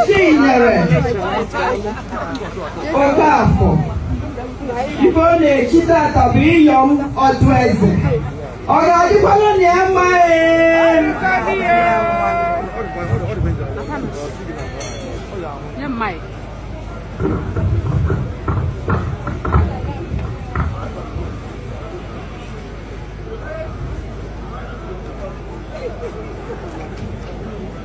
Chinyere Okafọ ife ọ na-echi tata bụ Iyom ọdụ eze ọ ga-adịkwanụ na ya mma ee